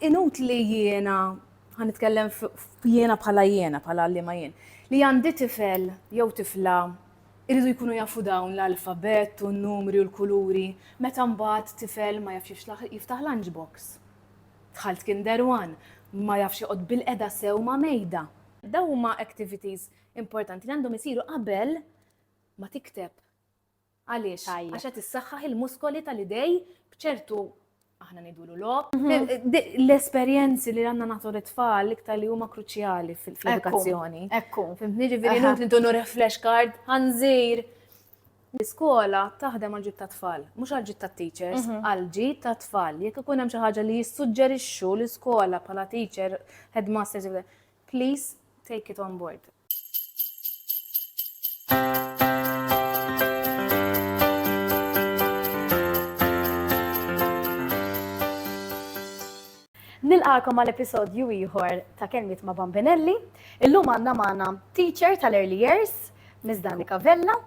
Inutli jiena, ħa nitkellem jiena bħala jiena, bħala għalliema jien, li għandi tifel jew tifla jridu jkunu jafu dawn l-alfabett u n-numri u l-kuluri meta mbagħad tifel ma jafx jiftaħ lunch box. Dħalt Kinder One, ma jafx joqgħod bilqeda sew ma' mejda. Dawn huma activities importanti li għandhom isiru qabel ma tikteb Għaliex? Tajjeb. Għax qed issaħħaħ il-muskoli tal-idej b'ċertu aħna ngħidulu logħob. L-esperjenzi li għandna nagħtu lit-tfal l-iktar li huma kruċjali fl-edukazzjoni. Ekku. Fimtni ġifieri Aha. nħut nitunu refresh card, ħanżir. L-iskola taħdem għal ġid ta' tfal, mhux għal ġid ta' teachers, għal ġid ta' tfal. Jekk ikun hemm xi ħaġa li jissuġġerixxu l-iskola bħala teacher, headmasters, Please take it on board. Nilqakom għal episodju ieħor ta' kelmiet ma' Bambinelli. Illum għandna magħna teacher tal-early years, Miss Danika Vella.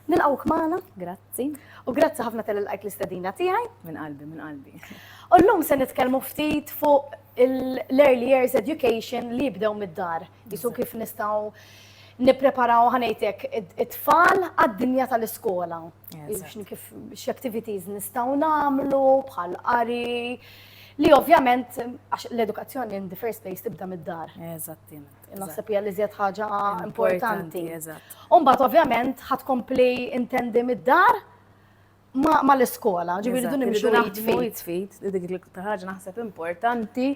Nilqawk magħna, grazzi. Grazzi. U grazzi ħafna tal lajk l-istedina tiegħi. Minn qalbi, minn qalbi. U llum se nitkellmu ftit fuq l-early years education li jibdew mid-dar. Jisu kif nistgħu nippreparaw ħanejtek it-tfal għad-dinja tal-iskola. Kif x-activities nistaw namlu bħal qari. Li ovvjament, l-edukazzjoni in the first place tibda mid-dar. Eżatti. Naħseb hija li żjed ħaġa importanti. Umbagħad ovvjament ħadd kompli intendi mid-dar ma l-iskola, ġifieri dun nimxu naħt fit fit, dik l-iktar ħaġa naħseb importanti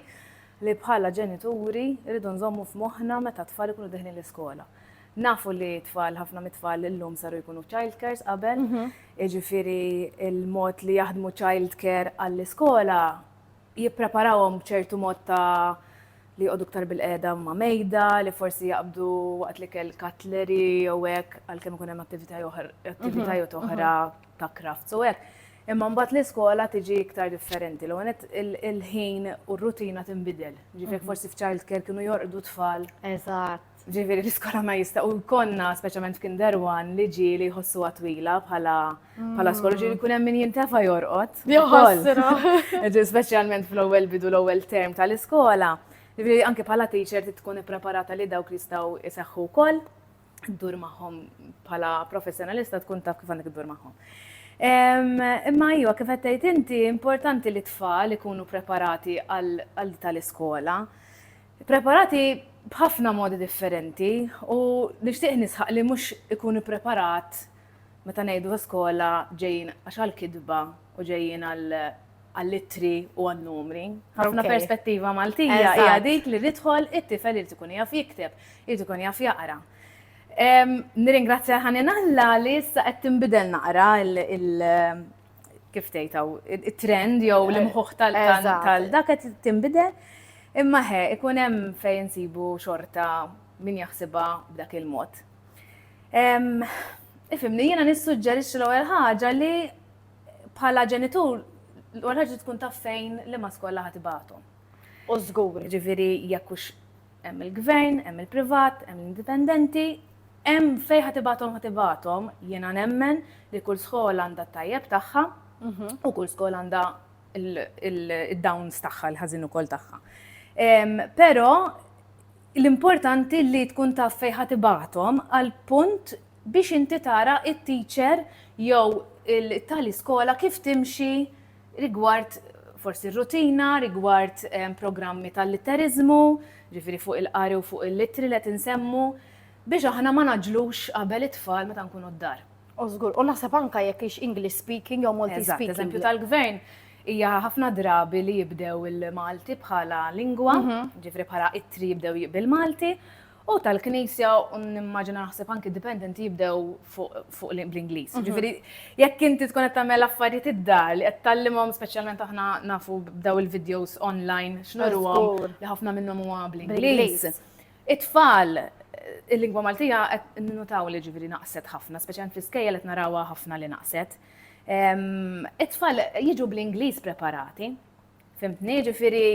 li bħala ġenituri rridu nżommu f'moħħna meta tfal ikunu deħlin l-iskola. Nafu li tfal, ħafna mit-tfal illum saru jkunu child cares qabel, mhm. iġifiri il-mod li jaħdmu child care għall-iskola jippreparawhom b'ċertu mod ta' li jqogħdu ktar bil-qiegħda ma' mejda, li forsi jaqbdu waqt li kell katleri jew hekk għalkemm ikun hemm attivitajiet mhm. oħra ta' kraft so hekk. Imma mbagħad l-iskola tiġi iktar differenti. L għanet il-ħin u r-rutina tinbidel. Ġifiek mhm. forsi f'child care kienu jorqdu tfal. Eżatt. Ġifieri l-iskola ma jista' u jkollna speċjalment f'Kinder One li ġi li jħossuha twila bħala bħala skola ġieli jkun hemm min jintefa' jorqod. Speċjalment fl-ewwel bidu l-ewwel term tal-iskola. Ġifieri anke bħala teacher tkun ippreparata li dawk jistgħu jseħħu wkoll, ddur magħhom bħala professjonalista tkun taf kif għandek iddur magħhom. Imma iva, kif qed tgħid inti, importanti li t-tfal ikunu preparati għal tal-iskola. Ippreparati b'ħafna modi differenti u nixtieq nisħaq li mhux ikun ippreparat meta ngħidu ta' skola ġejjin għax għall-kitba u ġejjin għall-ittri u għan-numri. Ħafna perspettiva Maltija hija dik li nidħol it-tifel irid ikun jaf jikteb, irid ikun jaf jaqra. Nirringrazzja ħanin Alla li issa qed tinbidel naqra kif tgħid hawn, it-trend jew l-imħuħ tal-dak qed tinbidel. Imma he, ikun hemm fejn insibu xorta min jaħsibha b'dak il-mod. Ifimni, jiena nissuġġerixxi l-ewwel ħaġa li bħala ġenitur l-ewwel ħaġa tkun taf fejn li ma skolla ħatibatu. U żgur, ġifieri jekk hux Hemm il-gvern, hemm il-privat, hemm l-indipendenti, hemm fejn ħa tibgħathom ħa tibgħathom, jiena nemmen li kull skola għandha t-tajjeb tagħha u kull skola għandha id-downs tagħha, l-ħażin ukoll tagħha. Però l-importanti li tkun taf fejn ħa tibgħathom għal punt biex inti tara it-teacher jew il-tali skola kif timxi rigward forsi r-rutina, rigward programmi tal-litteriżmu, ġifieri fuq il-qari u fuq il-littri li qed insemmu, biex aħna ma naġġlux qabel it-tfal meta nkunu d-dar. U żgur, u naħseb anke jekk hix English speaking jew Malti speaking. Eżatt, eżempju tal-gvern hija ħafna drabi li jibdew il-Malti bħala lingwa, mhm. ġifri bħala ittri jibdew bil-Malti, U tal-Knisja u nimmaġina naħseb anki dipendenti jibdew fuq bl-Ingliż. Mhm. Ġifieri jekk inti tkun qed tagħmel affarijiet id-dar li qed tallimhom speċjalment aħna nafu b'daw il-videos online x'nurhom li ħafna minnhom huwa bl-Ingliż. It-tfal il-lingwa Maltija qed nutaw li ġifieri naqset ħafna, speċjalment fl-iskejja qed narawha ħafna li naqset. It-tfal jiġu bl-Ingliż preparati. Fimtni, ġifieri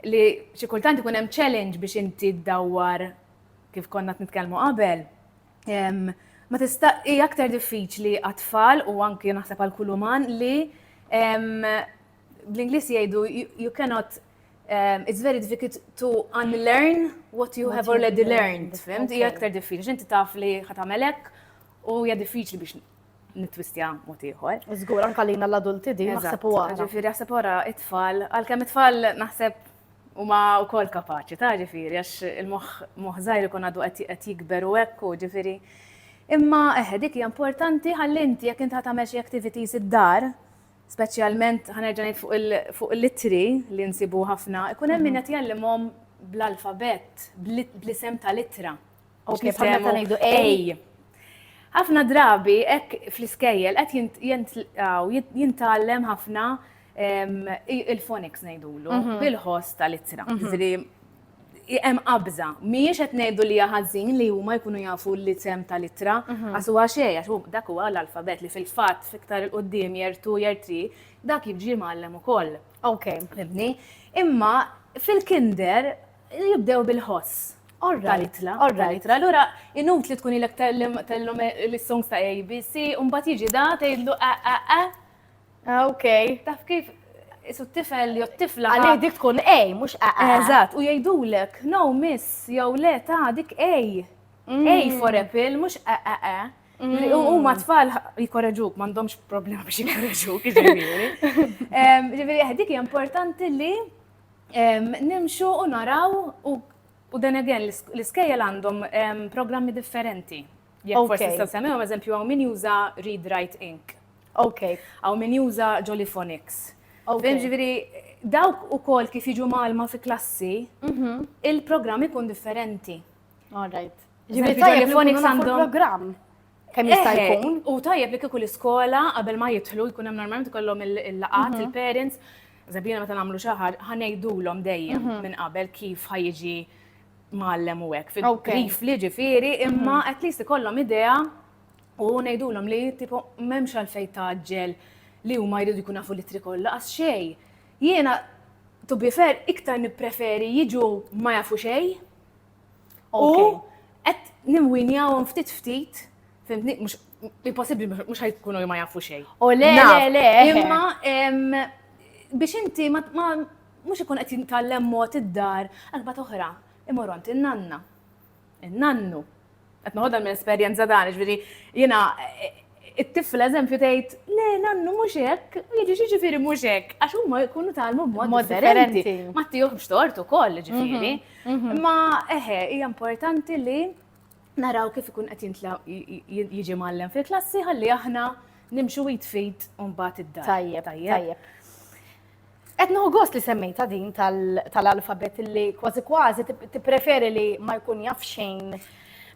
li xi kultant ikun hemm challenge biex inti ddawwar kif konna nitkellmu qabel. Ma tista' hi aktar diffiċli għat-tfal u anki naħseb għal kull uman li bl-Ingliż jgħidu you cannot um, it's very difficult to unlearn what you have already learned, fimt? Hija aktar diffiċli, inti taf li ħatamelek u hija diffiċli biex nitwistja mod ieħor. Żgur anke lina l-adulti din naħseb u għara. Ġifieri naħseb wara it-tfal, għalkemm it-tfal naħseb huma wkoll kapaċi ta' ġifieri għax il-moħħ żgħir ikun għadu qed jikber u hekk u ġifieri. Imma eħe dik hija importanti ħalli inti jekk inti tagħmel xi activities id-dar, speċjalment ħanerġa' ngħid fuq il-litri li nsibu ħafna, ikun hemm min qed jgħallimhom bl-alfabett, bl-isem tal-ittra. Għax li bħamna ngħidu ej. Ħafna drabi hekk fl-iskejjel qed jintgħallem ħafna il-phonics ngħidulu mhm. bil-ħoss tal-ittra. Ġifieri hemm qabża. Mhijiex qed ngħidu li ħażin li huma jkunu jafu l-isem tal-ittra mhm. għax huwa xejn għax dak huwa l-alfabet li fil-fatt fiktar il qudiem jertu jertri dak jiġi mgħallem ukoll. Ok. Fibni. Imma fil-kinder Jibdew bil-ħoss. Talitla, talitla, allura inut li tkun ilek tellhom l-songs ta' ABC, u mbagħad jiġi da tgħidlu a a a. Ah, ok. Taf kif isu t-tifel jew t-tifla. Għalli dik tkun A, mhux a a. Eżatt, u jgħidulek, no miss, jew le ta' dik A. A for apple, mhux a a a. U ma tfal jikorreġuk, m'għandhomx problema biex jikorreġuk, ġifieri. Ġifieri, dik hija importanti li Nimxu u naraw u then again l-iskejjel għandhom programmi differenti. Jekk forsi tistgħu semmihom eżempju hawn min juża Read Write Ink. Okay. Hawn min juża Jollyphonics. Okay. Ġifieri dawk ukoll kif jiġu malma fi klassi, mhm. il-programm ikun differenti. All right. Ġifieri Jollyphonics għandhom programm. kemm jista' eh, eh, jkun. U tajjeb li kieku l-iskola qabel ma jidħlu jkun hemm normalment kollhom il-laqat, mhm. il-parents, Zabina meta nagħmlu xi ħaġa ħanejdulhom dejjem mhm. minn qabel kif ħajġi mallem u hekk. Kif li ġifieri mhm. imma at least ikollhom idea u ngħidulhom li tipo m'hemmx għalfejn taġġel li huma jridu jkun nafu litri kollha għax xejn. Jiena to be fair iktar nippreferi jiġu ma jafu xejn U qed nimwinjawhom ftit ftit, fimtni, mhux impossibbli mhux ħajkunu ma jafu xejn. U le, le, le. Imma biex inti ma mhux ikun qed jintgħallem mod id-dar, għalba toħra, imorront in-nanna, in-nannu, Qed noħodha minn esperjenza tagħna, ġifieri jiena it-tifl eżempju tgħid, le nannu mhux hekk, jiġi ġifieri mhux hekk, għax huma jkunu talmu b'mod differenti. Ma tiħux tort ukoll ġifieri. Mhm, mhm. Ma eħe, hija importanti li naraw kif ikun qed jintla jiġi mallem fil-klassi ħalli aħna nimxu jitfid un bat id-dar. Tajjeb, tajjeb. Qed nieħu gost li semmejta din tal-alfabet li kważi kważi tippreferi li ma jkun jaf xejn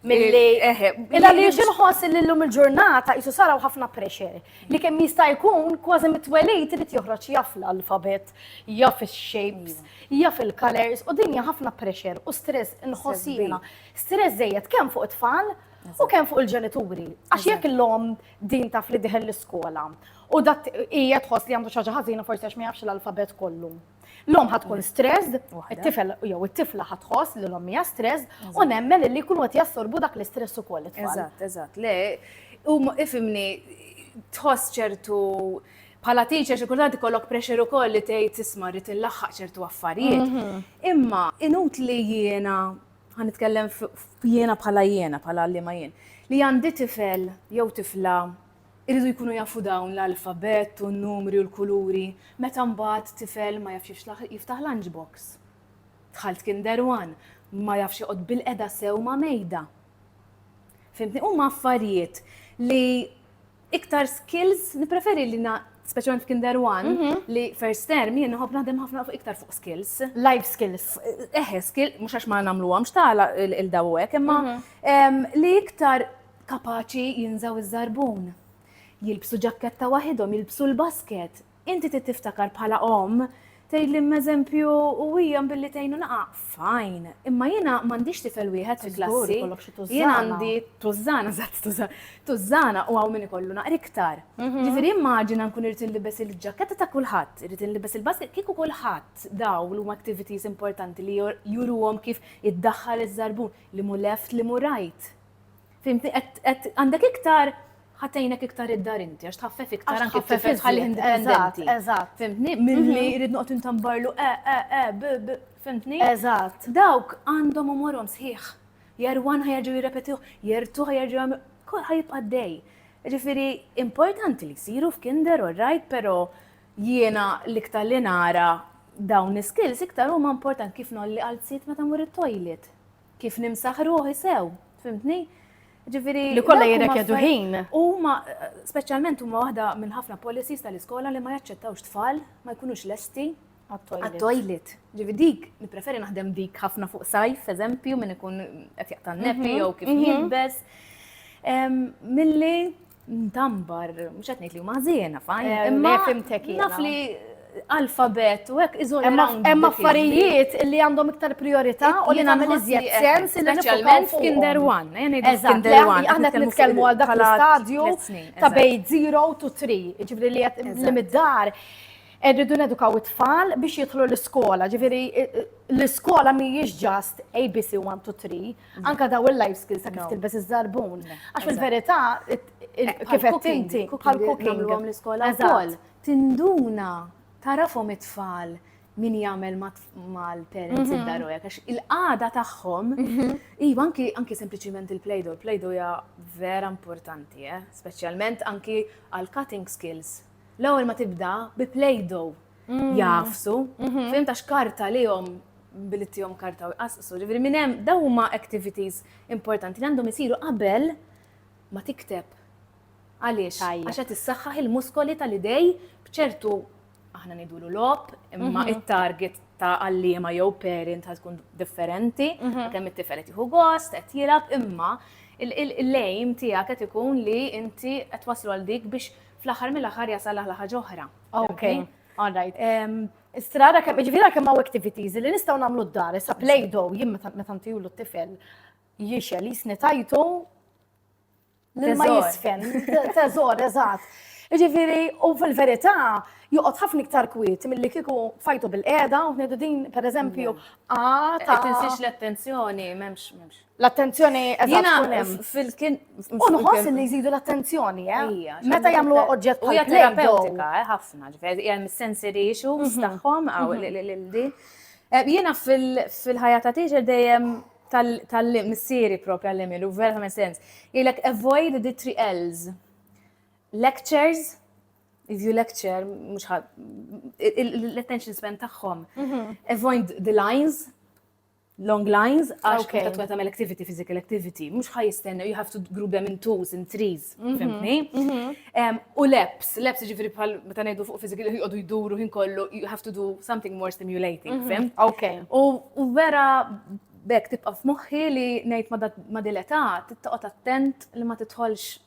milli eh, eh, illa li xinħoss li l-lum il-ġurnata jisu saraw ħafna pressure li kemm jista' jkun kważi mitwelejt irid joħroġ jaf l-alfabet, jaf ix-shapes, jaf il-colors u dinja ħafna pressure u stress inħossina. Stress żejjed kemm fuq it-tfal u kemm fuq il-ġenituri. Għax jekk l-lom Din taf li diħel l-iskola. U dat hija tħoss li għandu xi ħaġa ħażina forsi għax ma jafx l-alfabet kollu. L-om ħatkun stressed, it-tifel jew it-tifla ħatħoss li l-om hija stressed u nemmen li jkunu qed jassorbu dak l-istress ukoll. Eżatt, eżatt. Le, u ifimni tħoss ċertu bħala teacher xi kultant ikollok pressure ukoll li tgħid tisma' rrid inlaħħaq ċertu affarijiet. Mhm. Imma inut li jiena ħa nitkellem jiena bħala jiena, bħala għalliema jien, li għandi tifel jew tifla jridu jkunu jafu dawn l-alfabett u n-numri u l-kuluri meta mbagħad tifel ma jafx jiftaħ lunch box. Dħalt Kinder One, ma jafx joqgħod bil-qeda sew ma' mejda. Fimtni, huma affarijiet li iktar skills, nipreferi li na, speċjalment f'Kinder One, mhm. li first term jien nħobb naħdem ħafna fuq iktar fuq skills. Life skills. Eħe, eh, skill, mhux għax ma nagħmlu għamx tagħla il-daw hekk, imma mhm. li iktar kapaċi jinżaw iż-żarbun. Jilbsu ġakketta waħidhom, jilbsu l-basket, Inti trid tiftakar bħala omm, tgħidli m'eżempju u hija billi tgħin u naqa', fajn, imma jiena m'għandix tifel wieħed fi klassi, jien għandi tużżana, żatt tużżana, tużżana u hawn min ikollu naqra iktar. Mhm. Ġifieri immaġina nkun irid inlibes il-ġaketta ta' kulħadd, irid inlibes il-basket, kieku kulħadd daw l huma activities importanti li juruhom kif iddaħħal iż-żarbun, li mu left, li mu right. Fimti, għandek iktar ħatejnek iktar id-dar inti, għax tħaffef iktar anke tifel tħalli indipendenti. Eżatt. Fimtni, milli mhm. jrid noqgħod intambarlu e, e, e, b, b, fimtni? Eżatt. Dawk għandhom u morhom sħiħ. Jarwan ħajerġu jirrepetiħ, jertu ħajerġu għamil, kol ħajibqa' dej. Ġifiri, importanti li siru f'kinder u rajt, pero jiena l-iktar li nara dawn l-skills iktar huma important kif nolli għal sit meta mur it-toilet. Kif nimsaħ ruħi sew, fimtni? Ġifiri. Li kollha jirrekjedu ħin. Huma speċjalment huma waħda minn ħafna policies tal-iskola li ma jaċċettawx tfal ma jkunux lesti għat-toilet. Ġivi dik, nipreferi naħdem dik ħafna fuq sajf, eżempju, minn ikun qed jaqtan nepi mhm, jew kif mhm. jilbes. Milli Ndambar, mhux qed ngħid li huma ħżiena fajn. Eh, imma fimtek Naf li alfabet u hekk iżol Hemm affarijiet li għandhom iktar priorità u li nagħmel iżjed sens li speċjalment f'Kinder One. Eh, Eżatt, aħna qed nitkellmu għal dak l-istadju ta' bej 0 to 3, ġifri li li mid-dar rridu nedukaw it-tfal biex jidħlu l-iskola, ġifiri l-iskola mhijiex ġast ABC 1 to 3, Anka daw il-life skills ta' kif tilbes iż-żarbun. Għax fil-verità, kif qed inti, bħal cooking l-iskola wkoll. Tinduna tarafhom it-tfal min jagħmel mal-parents mhm. id-daru hekk għax il-qagħda tagħhom mhm. iva anki anki sempliċiment il-plejdo, il-plejdo hija vera importanti, eh? speċjalment anki għal cutting skills. L-ewwel ma tibda bi plejdo mm. jafsu, mhm. fim ta' xkarta li jom billi tijom karta u jqasqsu, ġiviri minn hemm daw huma activities importanti li għandhom isiru qabel ma tikteb. Għaliex? Għax qed issaħħaħ il-muskoli tal-idej bċertu aħna nidulu lop, imma mhm. it-target ta' għallima jew parent ħad tkun differenti, mhm. kemm it-tifel qed jieħu gost, qed jilab, imma il-lejm tiegħek qed ikun li inti qed waslu għal dik biex fl-aħħar mill-aħħar jasal aħla ħaġa oħra. Ok, all right. Istra għara kemm, ġifiri għara kemm għaw activities li nistaw namlu d-dar, issa play-doh, jim meta ntiju l-tifel, jiexel, jisni tajtu, l-ma jisfen, teżor, eżat. Ġifiri, u fil-verita, juqot ħafna iktar kwiet mill-li kiku fajtu bil-qeda, u din, per eżempju, għata. Tinsiex l-attenzjoni, memx, memx. L-attenzjoni Jiena fil-kien. Unħoss li jżidu l-attenzjoni, eh? Meta jagħmlu oġġett u hija terapeutika, eh, ħafna, ġifieri hemm sensory issues mhm. tagħhom għaw mhm. di. Eh, jiena fil-ħajja ta' teacher dejjem tal-missieri propri għall-email, u vera ħames sens. Jgħilek avoid the three L's. Lectures, if you lecture, mux l-attention span tagħhom. Mhm. Avoid the lines, long lines, għax okay. ta' tkun tagħmel activity, physical activity, mhux ħaj jistenna, you have to group them in twos, in threes, mhm, fimni? Mhm. U leps, leps ġifiri bħal meta ngħidu fuq physical jqogħdu jduru ħin kollu, you have to do something more stimulating, mhm. fim? Okay. U vera bekk tibqa' f'moħħi li ngħid ma' dileta, tittoqgħod attent li ma titħolx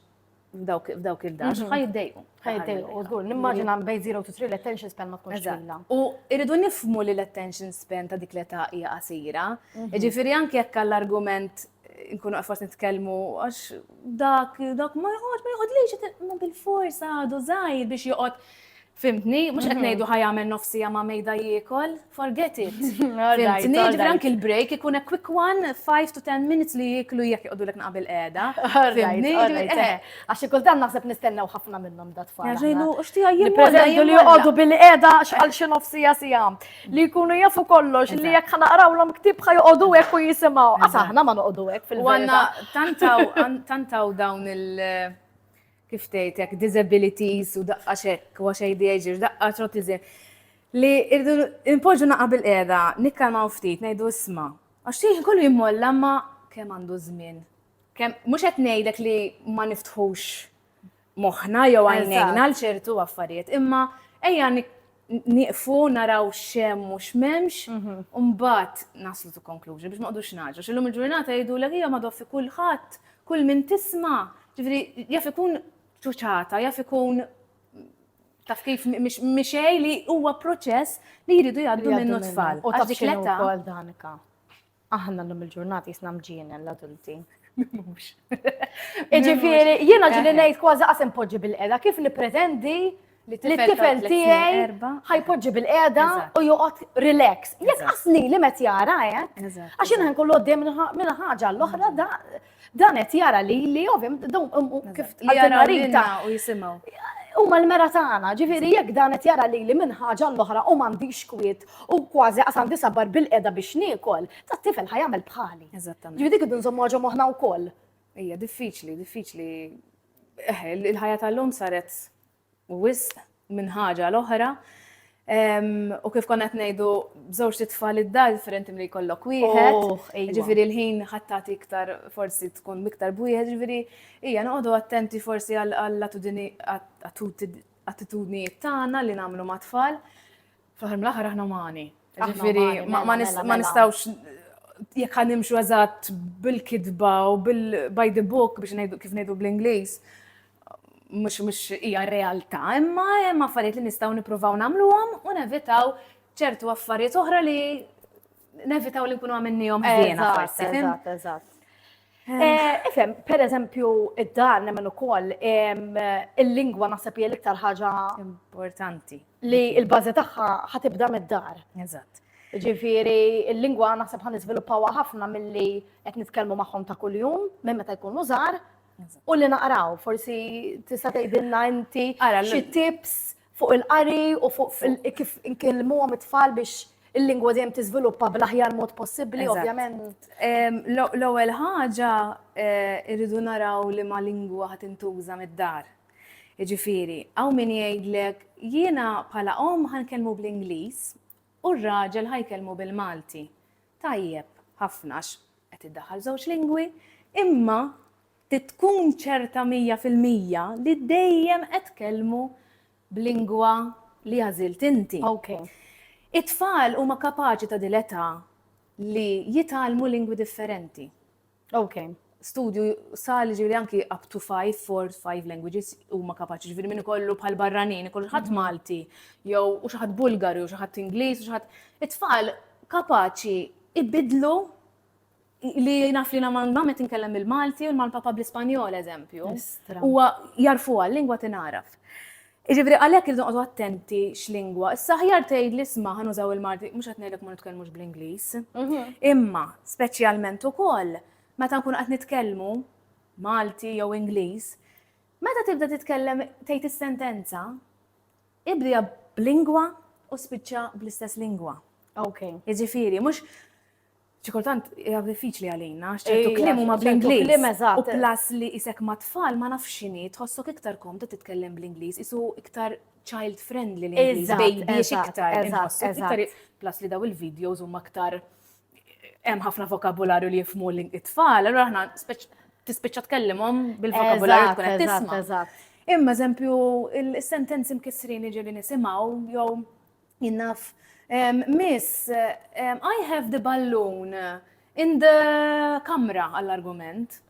f'dawk il-dax, mhm. ħajdejqu. Ħajdejqu, u żgur, nimmaġina bej 0 to 3 l-attention span ma tkunx twila. U irridu nifmu li l-attention span ta' dik l-età hija qasira. Mhm. Ġifieri anke jekk għall-argument nkunu għafas nitkellmu għax dak dak ma jħod, ma jħod li ma bil-forsa għadu żgħir biex joqgħod Fimtni? Mhux qed ngħidu ħa jagħmel nofsija ma' mejda jiekol. Forget it. Fimtni? Ġifieri anki l-break ikun a quick one, 5 to 10 minutes li jieklu jekk joqogħdulek naqabil qiegħda. Fimtni? Għax kultant naħseb nistennew ħafna minnhom dat tfal. Ġejnu, u xtieqa jien nippreżentu li joqogħdu bil-qiegħda għal xi nofsija siegħa. Li jkunu jafu kollox li jekk ħa naqrawlhom ktieb ħa joqogħdu hekk u jisimgħu. Għax aħna ma noqogħdu hekk fil-waqt. Għandna tant hawn dawn il- kif tgħid hekk, disabilities u daqqa xekk, u ADHD, daqqa trotiżi, li irdu npoġġu naqa' bil-qiegħda, nikkalmaw ftit, ngħidu isma', għax xejn kollu jimmolla ma kemm għandu żmien. Kemm mhux qed ngħidlek li ma niftħux moħħna jew għajnejna għal ċertu affarijiet, imma ejja nieqfu naraw x'hemm u x'memx, u mbagħad naslu to conclusion biex ma nqogħdux naġru. X'illum il-ġurnata jgħidulek hija madwar fi kulħadd, kull min tisma', ġifieri jaf ikun ċuċata, jaf ikun taf kif mixej li huwa proċess li jridu jgħaddu minnu tfal. U taf x'inhu wkoll Danika. Aħna llum il-ġurnati jisna mġienen l-adulti. Mux. Iġifiri, jiena ġili ngħid kważi qasem poġġi bil-qeda kif nippretendi li t-tifel tiegħi ħajpoġġi bil-qeda u joqgħod relax. Jekk asli li met jara hekk, għax jiena nkollu għoddej minn ħaġa l-oħra da Dan qed jara li li ovim dawn kif għal-marita u jisimgħu. U mal-mera tagħna, ġifieri jekk dan qed jara li li minn ħaġa l-oħra u m'għandix kwiet u kważi qasam disabbar bil-qeda biex niekol, tat-tifel ħajamel bħali. Eżattament. Ġifieri dik idu nżommu ħaġa moħħna wkoll. Ija, diffiċli, diffiċli. Eh, il-ħajja tal-lum saret wisq minn ħaġa għal oħra. U kif konna qed ngħidu b'żewġ titfal id-dar differenti milli jkollok wieħed. Oh, iva. Ġifieri l-ħin ħattati iktar forsi tkun iktar b'wieħed, ġifieri hija noqogħdu attenti forsi għall attitudnijiet tagħna li nagħmlu ma' tfal. Fl-aħħar mill-aħħar aħna umani. Ġifieri ma mela, mela, mela. nistgħux jekk ħan nimxu eżatt bil-kidba u bil-by the book biex ngħidu kif ngħidu bl-Ingliż mhux mhux hija realtà, imma hemm affarijiet li nistgħu nippruvaw nagħmluhom u nevitaw ċertu affarijiet oħra li nevitaw li nkunu għamilnihom ħdejna forsi. Eżatt, eżatt. Eh, ifem, per eżempju, id-dan nemmen ukoll il-lingwa naħseb hija l-iktar ħaġa importanti li l-bażi tagħha ħatibda mid-dar. Eżatt. Ġifieri il-lingwa naħseb ħan niżviluppawha ħafna milli qed nitkellmu magħhom ta' kuljum minn meta jkunu żgħar u li naqraw forsi tista' tgħidilna inti xi tips fuq il-qari u fuq kif inkellmuhom it-tfal biex il-lingwa dejjem tiżviluppa bl-aħjar mod possibbli, ovvjament. L-ewwel ħaġa eh, irridu naraw li ma lingwa ħad intuża mid-dar. Jiġifieri, hawn min jgħidlek jiena bħala om ħankellmu bl-Ingliż u r-raġel ħajkellmu bil-Malti. Tajjeb, ħafna qed iddaħħal żewġ lingwi, imma Trid tkun ċerta mija fil-mija li dejjem qed tkellmu b'lingwa li għażilt inti. Ok. It-tfal huma kapaċi ta' dil-età li jitgħallmu lingwi differenti. Ok. Studju sar li ġifieri anki up to five, four, five languages huma kapaċi. Ġifieri min ikollu bħal barranin, ikollu xi ħadd Malti, jew u xi ħadd Bulgaru, xi ħadd Ingliż, u xi ħadd. It-tfal kapaċi ibidlu li naf li na man ma met nkellem il-Malti u man papa bl-Ispanjol, eżempju. U jarfu għal lingwa tinaraf. Iġifri għalek il għadu attenti x-lingwa. Issa ħjar tgħid li sma ħan użaw il-Malti, mhux qed ngħidlek ma nitkellmux bl-Ingliż. Mhm. Imma speċjalment ukoll meta nkun qed nitkellmu Malti jew Ingliż, meta tibda titkellem tgħid is-sentenza, ibdija b'lingwa u spiċċa bl-istess lingwa. Ok. Iġifiri, mhux xi kultant hija diffiċli għalina, għax ċertu Ejja, kliem huma ċertu bl-Ingliż. kliem, eżatt. U plus li isek ma' tfal ma nafx x'inhi, tħossok iktar komda titkellem bl-Ingliż, isu iktar child friendly l-Ingliż, Eżatt, baby eżatt, iktar. eżatt, inħossu iktar- eżatt. Plus li daw il-videos huma aktar hemm ħafna vokabularju li jifmu l-tfal, allura aħna speċ- tispiċċa tkellimhom bil-vokabularju Eżatt, tkun qed eżatt, tisma'. eżatt. Imma eżempju, il-sentenzi mkissrin jiġifieri nisimgħu jew Jien naf, miss, I have the balloon in the kamra għall-argument.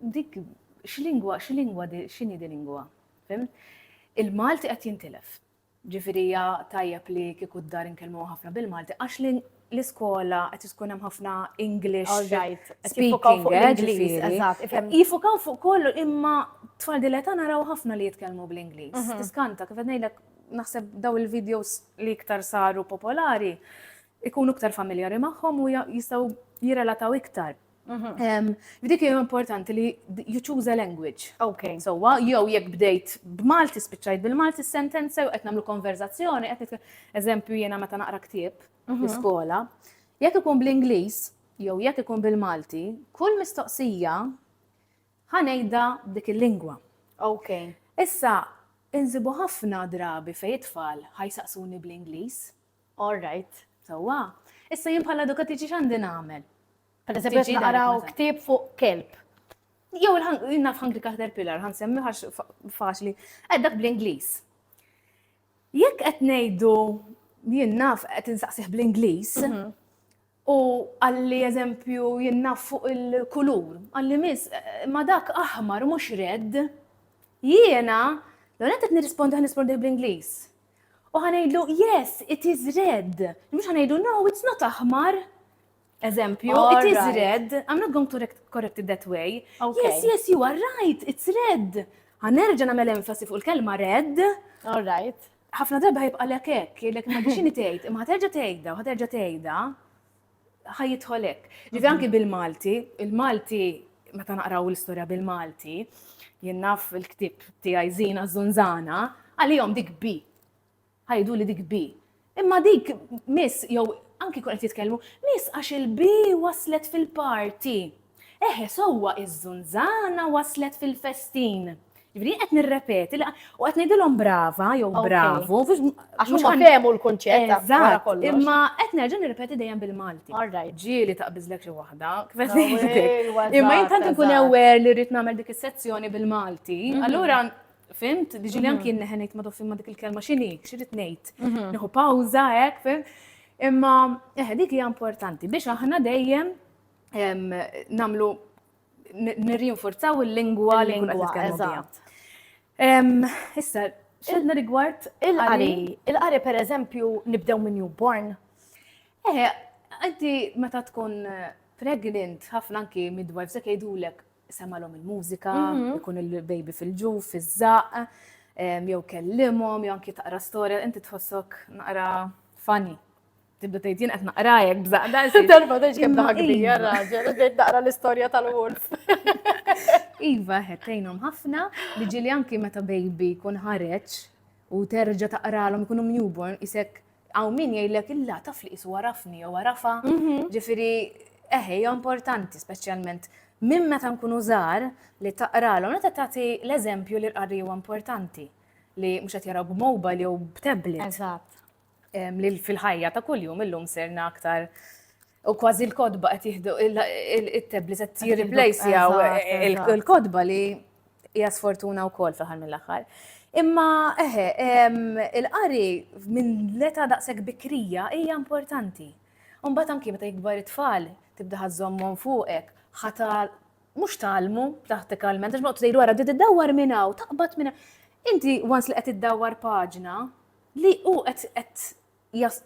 Dik, x'lingwa, x'lingwa, x'inhi di lingwa? Fim? Il-Malti qed jintilef. Ġifieri tajjeb li kieku d-dar inkellmu ħafna bil-Malti, għax l-iskola qed tkun hemm ħafna English. Alright, jifukaw fuq l-Ingliż, eżatt. Jifukaw fuq kollu imma tfal dileta naraw ħafna li jitkellmu bl-Ingliż. Mhm. Tiskanta, kif qed ngħidlek naħseb daw il-videos li iktar saru popolari ikunu iktar familjari magħhom u jistaw jirrelataw iktar. Mhm. Dik hija importanti li you choose a language. Ok. So, jew jekk bdejt b'Malti spiċċajt bil-Malti sentenza jew qed nagħmlu konverzazzjoni, qed eżempju jiena meta naqra ktieb mhm. l-iskola, jekk ikun bl-Ingliż jew jekk ikun bil-Malti, kull mistoqsija Ħa ngħidha b'dik il-lingwa. Okej. Issa, insibu ħafna drabi fejn it-tfal ħa jsaqsuni bl-Ingliż. All right. Sewwa. Issa jien bħala edukatriċi x'għandi nagħmel? Per eżempju qed naqraw ktieb fuq kelb. Jew naf Hungry Caterpillar, ħa nsemmi għax faċli. Qed dak bl-Ingliż. Jekk qed ngħidu jien naf qed insaqsih bl-Ingliż, mhm. U qalli eżempju jien naf fuq il-kulur. Qalli miss, ma dak aħmar mhux red. Jiena, l-ewwel nett qed nirrispondi ħa nirrispondih bl-Ingliż. U ħa ngħidlu yes, it is red. Mhux ħa ngħidu no, it's not aħmar. Eżempju, it is red. Alright. I'm not going to correct it that way. Ok. Yes, yes, you are right, it's red. Ħa nerġa' nagħmel emfasi fuq il-kelma red. Alright. Ħafna darba ħajbqalek hekk, jgħidlek imma biex inhi tgħid, imma ħaterġa' tgħidha, ħaterġa' tgħidha, ħajjidħol hekk. Ġifi anki bil-Malti, il-Malti meta naqraw l-istorja bil-Malti, jien naf il-ktib tiegħi żina żunżana, għalihom dik bi. Ħajdu li dik bi. Imma dik miss jew anki kun qed jitkellmu, miss għax il-bi waslet fil-parti. Eħe, sewwa iż-żunżana waslet fil-festin. Jiġifieri jien qed nirrepeti li u qed ngħidilhom brava jew Ok. bravu. mhux- Għax mhux huma għan- fehmu l-kunċett ta' wara Eżatt, kollox. imma qed nerġa' nirrepeti dejjem bil-Malti. All right. Ġieli taqbiżlek xi waħda, kif qed ngħidlek. Ewwa, Imma jien eżatt, tant inkun eżatt. aware li rrid nagħmel dik is-sezzjoni bil-Malti, Mhm. allura fimt, diġili Mhm. anki jien neħen ngħid ma toffi ma dik il-kelma x'inhi, x'irid ngħid. Mhm. Nieħu pawża hekk, fim. Imma eħe dik hija importanti biex aħna dejjem namlu nirrinforzaw il-lingwa li nkunu nitkellmu Issa, xedna rigward il-qari. Il-qari per eżempju nibdew minn newborn. Eh, għanti meta tkun eh, pregnant, ħafna anki midwives se jgħidulek semalhom il-mużika, mhm. ikun il-baby fil-ġuf, fiż-żaq, jew kellimhom, jew anki taqra storja, inti tħossok naqra funny. Tibda tgħid jien qed naqra jekk bżaqda. Darba tgħid kemm daħbi raġel, tgħid naqra l-istorja tal-wolf. Iva, ħettejnhom ħafna li ġili anki meta baby kun ħareġ u terġa taqralhom ikunu newborn isek għaw min jgħidlek illa taf li isu għarafni jew għarafa. Mhm. Ġifieri eħe importanti speċjalment minn meta nkunu żgħar li taqralhom meta tagħti l-eżempju li l-qari huwa importanti li mhux qed jaraw b'mobile jew b'tablet. Eżatt. li fil-ħajja ta' kuljum illum serna aktar u kważi l-kodba qed jieħdu it-tablet qed jirreplace jew il-kodba li hija sfortuna wkoll fl-aħħar mill-aħħar. Imma eħe, il-qari minn leta daqshekk bikrija hija importanti. Mbagħad anki meta jikbar it-tfal tibda ħażommhom fuqek, ħata mhux talmu prattikalment, għax ma tgħidu wara di tiddawwar minn hawn, taqbad minn Inti once li qed iddawwar paġna, Li hu qed qed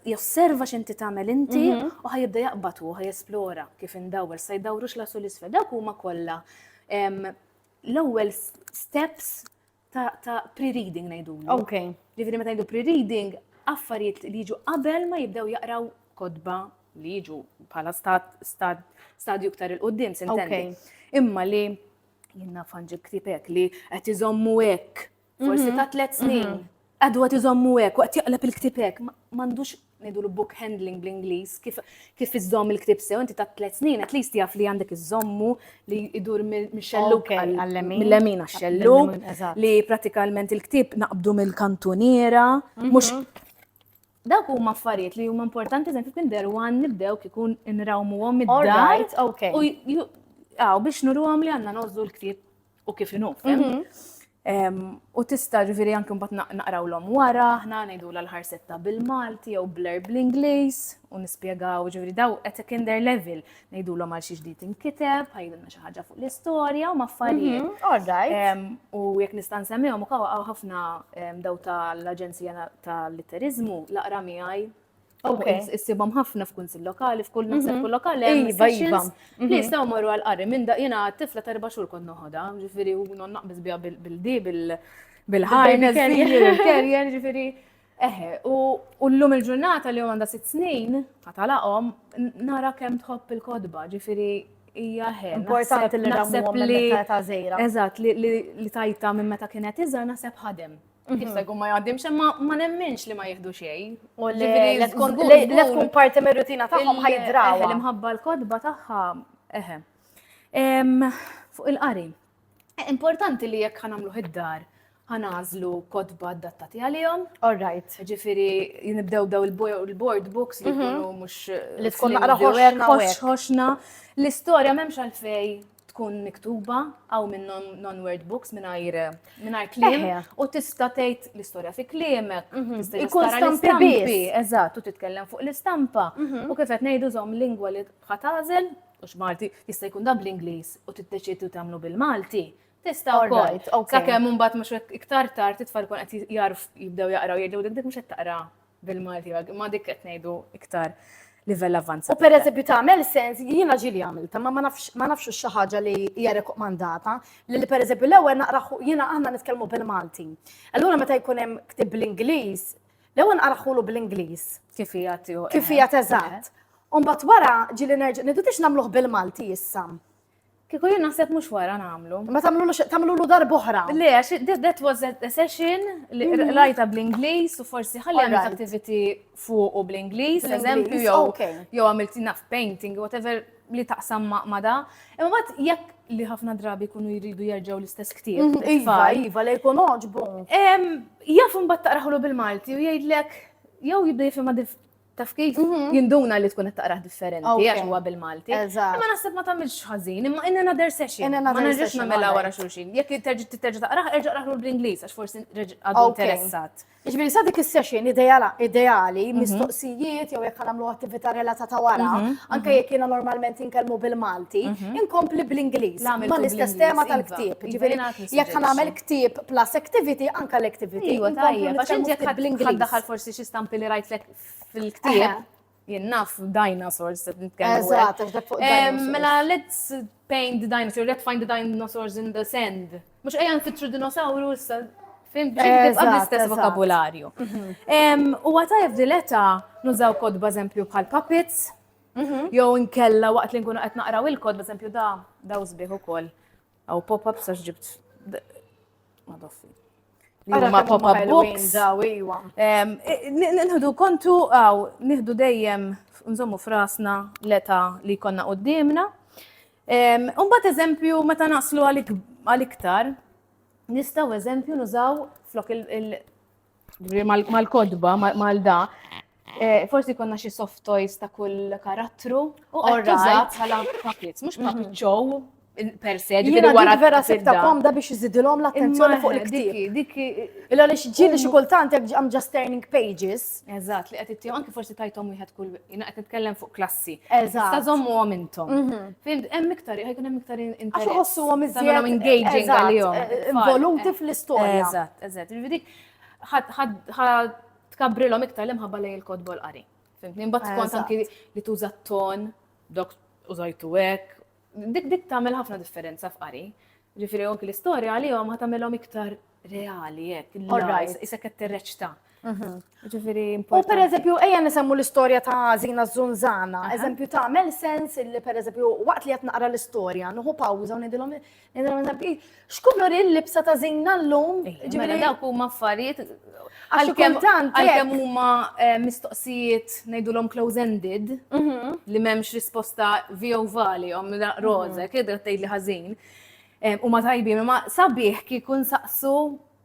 josserva x'inti tagħmel inti u ħa jibda jaqbad hu, ħa jesplora kif indawwar, sa jdawrux l u l-isfel. Dawk huma kollha l-ewwel steps ta' pre-reading ngħidulu. Ok. Ġifieri meta ngħidu pre-reading, affarijiet li jiġu qabel ma jibdew jaqraw kodba li jiġu bħala stadju iktar il-qoddim, sintendi. Imma li jenna fanġi ktibek li qed iżommu hekk Forsi ta' tliet snin. Għadu għat iżommu hekk, waqt jaqleb il-ktib hekk, m'għandux ngħidu l-book handling bl-Ingliż, kif iżomm il-ktib sew, inti ta' tliet snin, at least jaf li għandek iżommu li idur mix-xelluk mill-lemin għax-xelluk, li pratikament il-ktib naqbdu mill-kantuniera, mhm. mhux Dawk huma affarijiet li huma importanti eżempju kien deru għan nibdew kikun nrawmuhom id-dar. All right, okay. U biex nuruhom li għandna nożżu l-ktieb u kif inhu, U tista' ġifieri anke mbagħad naqrawlhom wara, aħna ngħidu l-ħarsetta bil-Malti jew blur bl-Ingliż u nispjegaw ġifieri daw qed kinder level ngħidulhom għal xi ġdid inkiteb, ħajdilna xi ħaġa fuq l-istorja u maffarijiet. Mhm, u jekk nista' nsemmihom ukoll ħafna daw tal-Aġenzija tal-Litteriżmu laqra miegħi Issibhom ħafna f'kunsil lokali, f'kull mhm. naħseb kull lokali hemm iva, iva. li mhm. jistgħu marru għal qari minn da jiena tifla ta' erba' xhur kont noħodha, ġifieri u non naqbis biha bil-di bil-ħajna il-kerjer, ġifieri. Eħe, u l-lum il-ġurnata li għanda sitt snin, għatalaqom, nara kem tħobb il-kodba, ġifiri hija ħe. Importanti li naħseb li ta' zejra. Eżatt, li tajta minn meta kienet iżgħar naħseb ħadem. Jista' jkun ma jgħaddimx, imma ma nemminx li ma jieħdu xejn. U li tkun parti mir-rutina tagħhom ħajdraw. L-imħabba l-kodba tagħha eħe. Fuq il-qari. E, importanti li jekk ħanamlu id-dar ħanażlu kodba adattati għalihom. All right. Ġifieri nibdew daw il-board books li mhm. jkunu mhux li tkun naqra ħoxna. L-istorja m'hemmx għalfej tkun miktuba għaw minn non-word books mingħajr mingħajr kliem u tista' tgħid l-istorja fi kliemek. Mhm. Ikun stampi eżatt, u titkellem fuq l-istampa. Mhm. U kif qed ngħidu żomm lingwa li ħatażel, u x'Malti jista' jkun dab l-Ingliż u tiddeċidu tagħmlu bil-Malti. Tista' wkoll. Sakemm imbagħad mhux iktar tard it-tfal kun qed jarf jibdew jaqraw jgħidu dik dik mhux qed taqra Bil-Malti għag, imma dik qed ngħidu iktar livell avanzat. U per eżempju tagħmel sens jiena ġieli għamilta, ma ma nafx xi ħaġa li hija rekomandata li li per eżempju l-ewwel naqra jiena aħna nitkellmu bil-Malti. Allura meta jkun hemm ktib bl-Ingliż, l-ewwel naqra ħulu bl-Ingliż. Kif hija tiegħu. Kif hija teżatt. Umbat wara ġieli nerġa' nidu tix nagħmluh bil-Malti issa. Kiku jien naħseb mhux wara nagħmlu. Ma tagħmlulu tagħmlulu darb'oħra. Le, għax that was a session li mhm. rajta bl-Ingliż u forsi ħalli għamilt activity fuq u bl-Ingliż, eżempju jew jew għamilt enough painting, whatever li taqsam ma' da. Imma bat jekk li ħafna drabi kunu jridu jerġgħu l-istess ktieb. Mhm, iva, iva, li jkun oġbu. Jaf imbagħad taqraħlu bil-Malti u jgħidlek jew jibda jifhimha taf kif mhm. jinduna li tkun qed taqrah differenti għax huwa bil-Malti. Imma naħseb ma tagħmilx ħażin, imma in another session. Ma nerġax nagħmilha wara xulxin. Jekk terġa' titerġa' taqrah, erġa' qrah bl-Ingliż għax forsi għadu interessat. Ġifieri sa dik is-session ideali, mhm. mistoqsijiet jew jekk nagħmlu attività relatata wara, mhm, anke jekk jiena normalment inkellmu bil-Malti, inkompli bl-Ingliż. Ma l-istess tema tal-ktieb. Iva, Ġifieri jekk nagħmel Ktib plus activity anka l-activity. Iwa tajja, għax inti jekk bl-Ingliż. Daħal forsi xi stampi li rajtlek fil-ktib. Jien naf dinosaurs qed nitkellmu. Eżatt, għax dak fuq. Mela let's paint the dinosaur, let's find the dinosaurs in the sand. Mhux ejja nfittru dinosawru issa Fim, tibqa l-istess vokabularju. Mhm. U għatajf dileta nużaw kodba eżempju bħal puppets, mhm. jew nkella waqt li nkunu qed naqraw il-kod, eżempju da, da użbih ukoll. Aw pop-up sax ġibt. Madoffi. Ma pop-up books. Iwa. Nħdu kontu għaw, nħdu dejjem nżommu frasna l-eta li konna qoddimna. Umbat eżempju, meta naslu għal-iktar, nistaw eżempju nużaw flok il- mal-kodba, mal-da, eh, forsi konna xi soft toys ta' kull karattru. U għorra bħala puppets, mux puppet show per se, ġifiri wara. vera sekta komda biex jizidilom l-attenzjoni fuq il-ktib. Dik, illa li xġili xi kultant għam just turning pages. Eżat, li għed it-tijom, anki forsi tajtom wieħed kull, jina għed nitkellem fuq klass tal-klassi. Eżatt. Tista' żommuhom intom. Mhm. Fimt, hemm iktar, ħajkun hemm iktar interess. Għax iħossuhom iżjed. Tagħmilhom engaging Eżatt, għalihom. eh, it-tfal. Involuti fl-istorja. Eżatt, eżatt. Ġifieri dik ħad- ħad- ħad tkabbrilhom iktar l-imħabba lejn il-kotba u l-qari. Fimtni? Imbagħad skont Eżatt. anki li tuża t-ton, dok użajtu hekk, Dik dik tagħmel ħafna differenza f'qari. Ġifieri anki l-istorja għalihom ħa tagħmilhom iktar reali hekk. Alright. Isek qed tirreċta. Mhm. Ġifieri importanti. U per eżempju, ejja nisemmu l-istorja ta' Zina Zunzana. Eżempju ta' mel sens li per eżempju, waqt li qed naqra l-istorja, nuħu pawża u nidilhom nidilhom eżempju, X'kulur il-libsa ta' żinna llum? Ġifieri dawk huma affarijiet għalkemm għalkemm huma eh, mistoqsijiet ngħidulhom close-ended mhm. li m'hemmx risposta vio valihom mhm. roże, kiedu tgħid li ħażin. Eh, huma tajbin, ma sabiħ kieku nsaqsu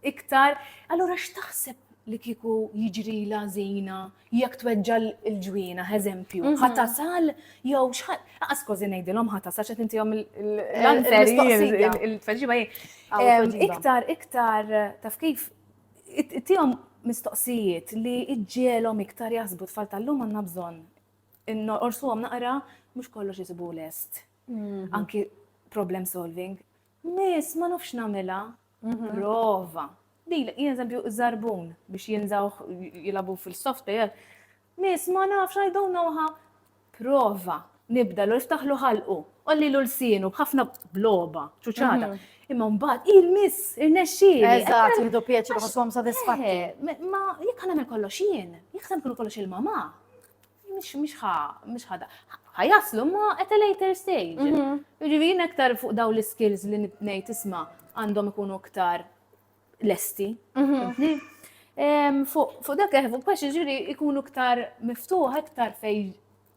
iktar, allura x'taħseb li kieku jiġri lażina jekk tweġġa' l-ġwienaħ, eżempju, ħa tasal jew x'ħa laqas kważi ngħidilhom ħa tasal x'qed intihom l-mistoqsija. Il-tweġiba hi. Iktar, iktar taf kif tihom mistoqsijiet li iġġielhom iktar jaħsbu tfal tal-lum għandna bżonn. Orsuhom naqra mhux kollox isibu lest. Anki problem solving. Miss, ma nafx nagħmilha. Prova. Dilek, jien eżempju, żarbun biex jinżawh jilagħbu fil-software. Miss, ma nafx, I don't know how. Prova. Nibda l iftaħlu ħalqu, ollilu l-sienu b'ħafna bloba, ċuċata. Imma mbagħad, il-miss, irnexxieli. Eżatt, jieħdu pjaċir ħosshom sodisfatti. Eh, ma jekk nagħmel kollox jien, jekk se nkunu kollox il-mamà. Mhix mhix ħa mhix ħada. Ħajaslu ma at a later stage. Mhm. Jiġifieri aktar fuq daw l-skills li ngħid isma' għandhom ikunu aktar lesti. Mhm. Fuq dak eh, fuq biex ġiri ikunu ktar miftuħ, ktar fej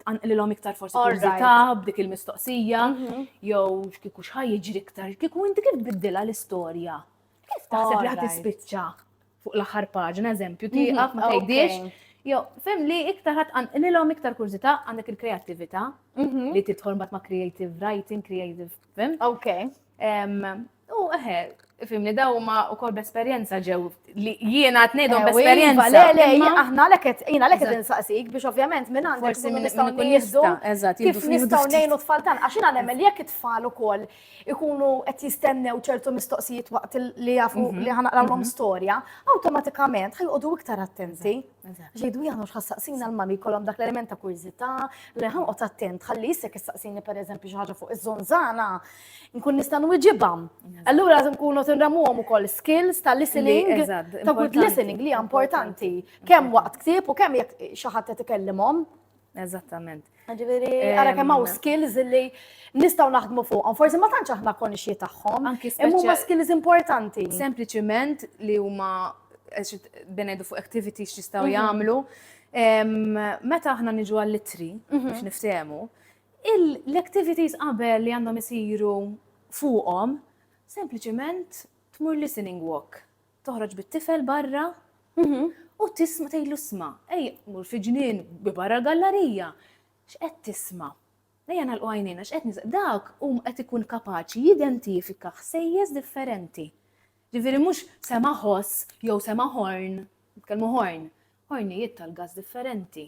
l-om iktar forsi kurzita b'dik il-mistoqsija, mhm. jew kiku xħaj ġiri ktar, kiku inti kif biddila l-istoria. Kif taħseb li ħat ispiċċa? fuq l-aħħar paġna, eżempju, mhm. tieqaf ma tgħidix. Jo, fem li iktar ħat għanqililhom iktar kurzita għandek il-kreattività mhm. li tidħol mbagħad ma' creative writing, creative, fem? Ok. U eħe, fim li daw ma u kol b'esperienza ġew li jiena tnejdhom eh, b'esperienza. Le, le, aħna leket, jiena leket insaqsik biex ovvjament minn għandek forsi minn nistgħu nieħdu kif nistgħu ngħinu tfal tan għax jiena nemmel jekk it-tfal ukoll ikunu qed jistennew ċertu mistoqsijiet waqt li jafu mhm. li ħanaqrawlhom mhm. storja, awtomatikament ħajqodu iktar attenti. Ġejdu jgħanu x'ħassaqsina l-mami kolom dak l-element ta' kurżità li ħanqod attent ħalli jissek issaqsini pereżempju xi ħaġa fuq iż-żonżana nkun nista' nwiġibha. Allura lازم nkunu tinramuhom ukoll skills ta' listening, ta' good listening li importanti kemm waqt ktieb u kemm jekk xi ħadd qed ikellimhom. Eżattament. Ġifieri, ara kemm hawn skills li nistgħu naħdmu fuqhom. Forsi ma tantx aħna konxji tagħhom. Imma huma skills importanti. Sempliċiment li huma benejdu fuq activities x'jistgħu mhm. jagħmlu. Meta aħna niġu għall-litri mhm. biex niftehmu, l-activities qabel li għandhom isiru fuqhom, sempliċement tmur listening walk. toħroġ bit-tifel barra u tisma' tgħidlu isma' ejja mur fi ġnien bi barra l-gallarija. X'qed tisma'? Ejja nagħlqu għajnejna x'qed nis dak hu qed ikun kapaċi jidentifika ħsejjes differenti. Ġifieri mhux sema' ħoss jew sema' ħorn, nitkellmu ħorn, ħornijiet tal-gass differenti.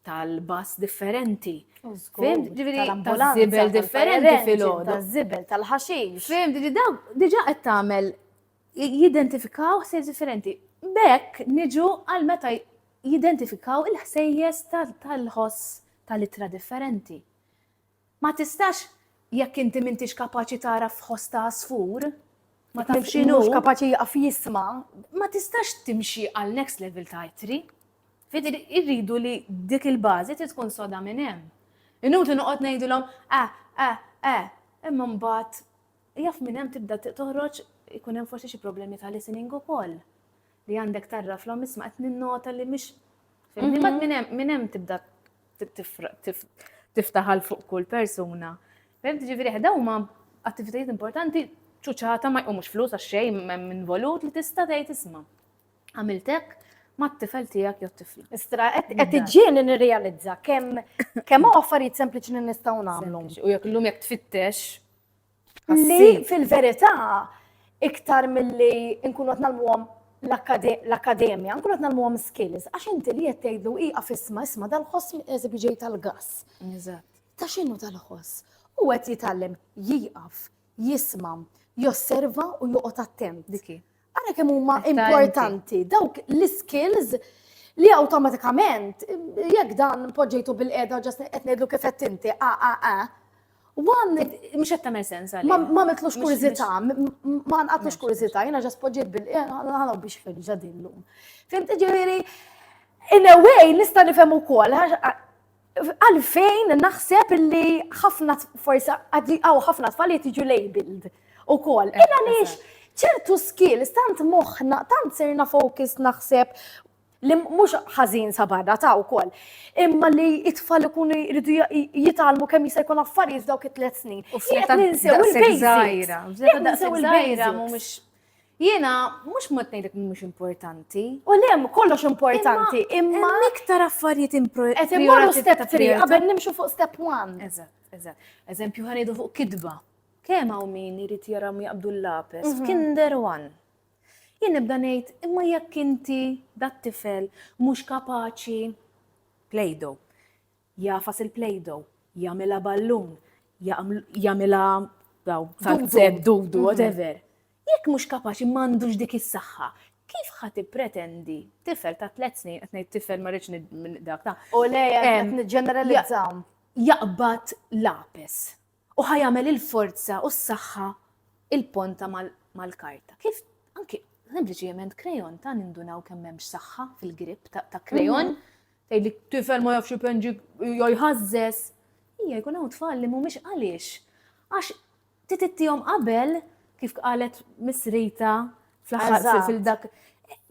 tal-bass differenti. Fimt, ġiviri, tal-zibel differenti fil-ħodu. Tal-zibel, tal-ħaxix. Fimt, ġi daw, diġa qed tagħmel jidentifikaw ħsejjes differenti. Bekk niġu għal meta jidentifikaw il-ħsejjes tal-ħoss tal-itra differenti. Ma tistax jekk inti m'intix kapaċi tara f'ħoss ta' għasfur, ma taf x'inhu. Mhux kapaċi jieqaf jisma'. Ma tistax timxi għal next level ta' ittri. Fidi irridu li dik il-bażi trid tkun soda minn hemm. Inutli noqgħod ngħidilhom ah, ah, ah, imma mbagħad jaf minn hemm tibda toħroġ ikun hemm forsi xi problemi ta' listening ukoll. Li għandek tarraflhom isma' qed ninnota li mhix fimni mat minn hemm minn hemm tibda tiftaħal fuq kull persuna. Fem tiġifieri ħda huma attivitajiet importanti ċuċata ma jqumux flus għax xejn hemm involut li tista' tgħid isma'. Għamiltek mat-tifel tiegħek jew tifla. Istra qed iġġieni nirrealizza kemm kemm affarijiet sempliċi li nistgħu nagħmlu. U jekk illum jekk tfittex Li fil-verità iktar milli nkunu qed nagħlmuhom l-akkademja, nkunu qed nagħlmuhom skills, għax inti li qed tgħidlu iqa fisma isma' dal-ħoss qed ġej tal-gass. Ta' x'inhu tal-ħoss? U qed jitgħallem jieqaf, jisma', josserva u joqgħod attent. Ara kemm huma importanti dawk l-skills li awtomatikament jekk dan poġġejtu bil-qeda ġas qed ngħidlu kif qed inti a a a Wan, mux qed tagħmel sens għalli. Ma mitlux kurzita, ma nqatlux kurzita, jiena ġas poġġejt bil-qeda biex ferġa' din lum. Fimt ġifieri, in a way nista' nifhem ukoll Għalfejn naħseb li ħafna forsa għaw ħafna tfal jtiġu labeled u kol. Eh, Illa lix ċertu skills tant moħna, tant serna focus naħseb li mhux ħażin sa barra ta' wkoll. Imma li it-tfal ikunu jridu jitalmu kemm jista' jkun affarijiet dawk it-tliet snin. U f'leta ninsew il-basics. Ninsew il-basics. Jiena mhux mod ngħidlek li mhux importanti. U le kollox importanti, imma iktar affarijiet importanti. Qed immorru step 3 qabel nimxu fuq step 1. Eżatt, eżatt. Eżempju ħanidu fuq kidba. Kemm hawn min irid jara jaqbdu l-lapes mhm. f'Kinder One. Jien nibda ngħid imma jekk inti dat-tifel mhux kapaċi plejdo. Jagħfas il-Play-Doh, jagħmilha ballun, jagħmilha tazzett, dudu, whatever. Jekk mhux kapaċi m'għandux dik is-saħħa, kif ħa tippretendi tifel ta' tliet snin qed ngħid tifel ma rridx dak ta' u le qed niġġeneralizzaw jaqbad lapes U ħa jagħmel il-forza u s-saħħa il-ponta mal-karta. Kif anki sempliċement krejon ta' nindunaw kemm hemmx saħħa fil-grip ta' krejon, tgħidli tifel ma jafx ipenġi jew jħażżeż. Hija jkun hawn tfal li mhumiex għaliex. Għax titittihom qabel kif qalet Miss Rita fl-aħħar fil-dak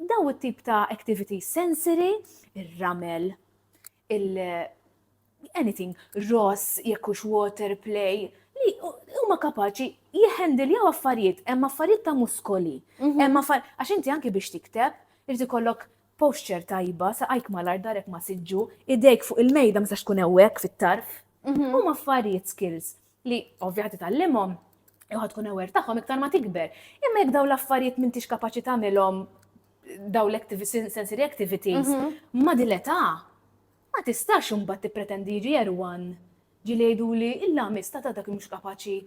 daw it-tip ta' activity sensory, ir-ramel, il anything ross jekk hux water play li huma kapaċi jħendiljaw affarijiet, hemm affarijiet ta' muskoli. Mhm. Hemm affarijiet għax inti anki biex tikteb irid ikollok posture tajba, saqajk mal-art darek ma siġġu, idejk fuq il-mejda ma sax tkun hewwek fit-tarf. Mhm. Huma affarijiet skills. li ovvja ħad titgħallimhom jew ħad tkun aware tagħhom iktar ma tikber. Imma jekk dawn l-affarijiet m'intix kapaċi tagħmilhom daw l-sensory activities mhm. ma dil-età ma tistax imbagħad tippretendi jiġi erwan ġi li jgħidu li illa mista ta' dak mhux kapaċi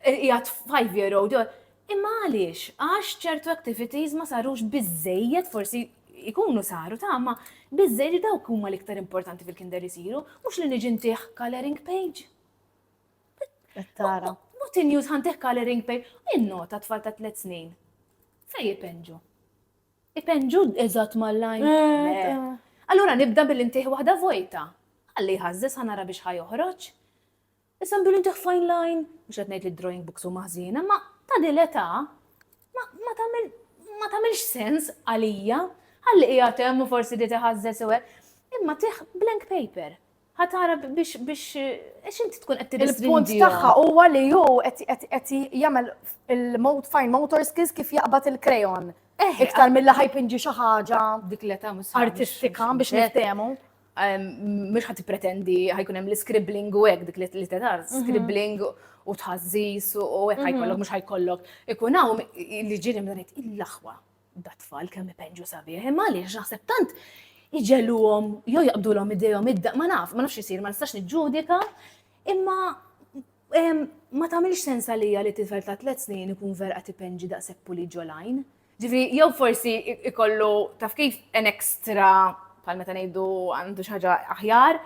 jgħat 5 year old Imma għaliex? Għax ċertu activities ma sarux biżżejjed, forsi jkunu saru ta' ma biżżejjed li dawk huma l-iktar importanti fil-kinder isiru, mhux li niġi ntih coloring page. Tara. Mut in-news ħantih coloring page, in-nota tfal ta' tliet snin. Fej jipenġu? Ipenġu eżatt mal-lajn. Eh, eh. Allura nibda billi ntih waħda vojta. Għalli ħażżis ħanara biex ħajoħroġ. Issa nduri nġah fine line, mhux qed ngħid li d-drawing books huma ħżiena, imma ta' din l-età ma tagħmel ma tagħmilx sens għalija. Ħalli qiegħed hemm u forsi ried iħażżeż u hekk. Imma tih blank paper. Ħa tara biex biex għax inti tkun qed Il-punt tirrestringihom. tagħha huwa li hu qed qed qed jagħmel il-mot fine motor skills kif jaqbad il-krejon. Eh, Iktar mill-li ħajpinġi xi ħaġa dik l-età mhux artistika biex niftehmu. Mhux ħadd pretendi ħajkun hemm l-scribbling u hekk dik li tenar, mhm. scribbling u tħażżis u hekk mhm. ħajkollok mhux ħajkollok. Ikun hawn li ġieli mdanet il-laħwa dat-tfal kemm ipenġu sabiħ, imma għaliex naħseb tant iġeluhom jew jaqbdulhom idejhom id ma naf, ma nafx isir, ma nistax niġġudika, imma ma tagħmilx sens għalija li tifel ta' tliet snin ikun vera qed ipenġi daqshekk puli ġolajn. Ġifri, jew forsi ikollu taf kif en ekstra bħal meta ngħidu għandu xi ħaġa aħjar.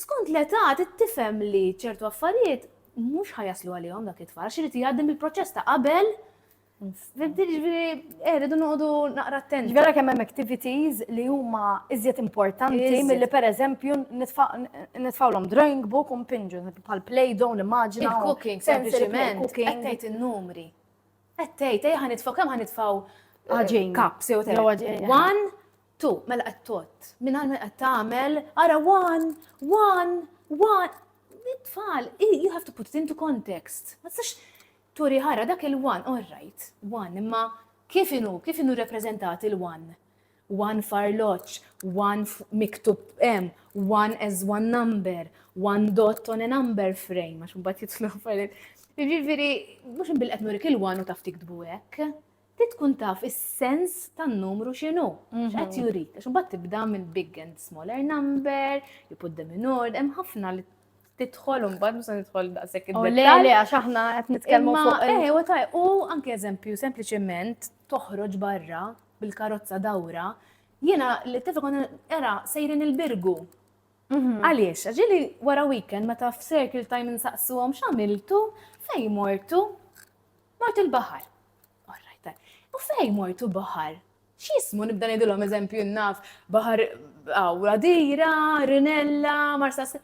Skont l-età tifhem li ċertu affarijiet mhux ħajaslu għalihom dak it-tfal, xi jgħaddim il-proċess ta' qabel Fimti ġviri, eh, rridu noqdu naqra attenti. Ġviri kemm hemm activities li huma iżjed importanti milli per eżempju nitfawlhom drawing book u mpinġu bħal play down immaġina. Il-cooking sempliċement qed tgħid in-numri. Qed tgħid, ejja ħanitfgħu kemm ħanitfgħu Għaġin. Eh, Kaps jew tgħid. Għaġin. One, two, mela qed tot. Minn għal qed tagħmel, ara one, one, one. Tfal, you have to put it into context. Ma tistax turi ħara dak il-one, all right, one, imma kif inu, kif inu reprezentat il-one? one farloġġ, one miktub hemm, one as one number, one dot on a number frame, għax mbagħad jitlu affarijiet. Jiġifieri mhux inbil qed nurik il-one u taf tiktbu hekk. Ti tkun taf is-sens tan-numru x'inhu, x'qed mhm. jurik. Għax mbagħad tibda minn big and smaller number, you put them in order, hemm ħafna li titħol un bad musa nidħol daqsek id Le, le, għax aħna qed nitkellmu fuq. Eh, u anke eżempju, sempliċement toħroġ barra bil-karozza dawra, jiena li tifa konna era sejrin il-birgu. Mhm. Għaliex, ġili wara weekend meta f'circle time nsaqsuhom x'għamiltu fej mortu mortu l-baħar. U fej mortu baħar? X'jismu nibda ngħidilhom eżempju naf baħar għaw radira, rinella, marsas.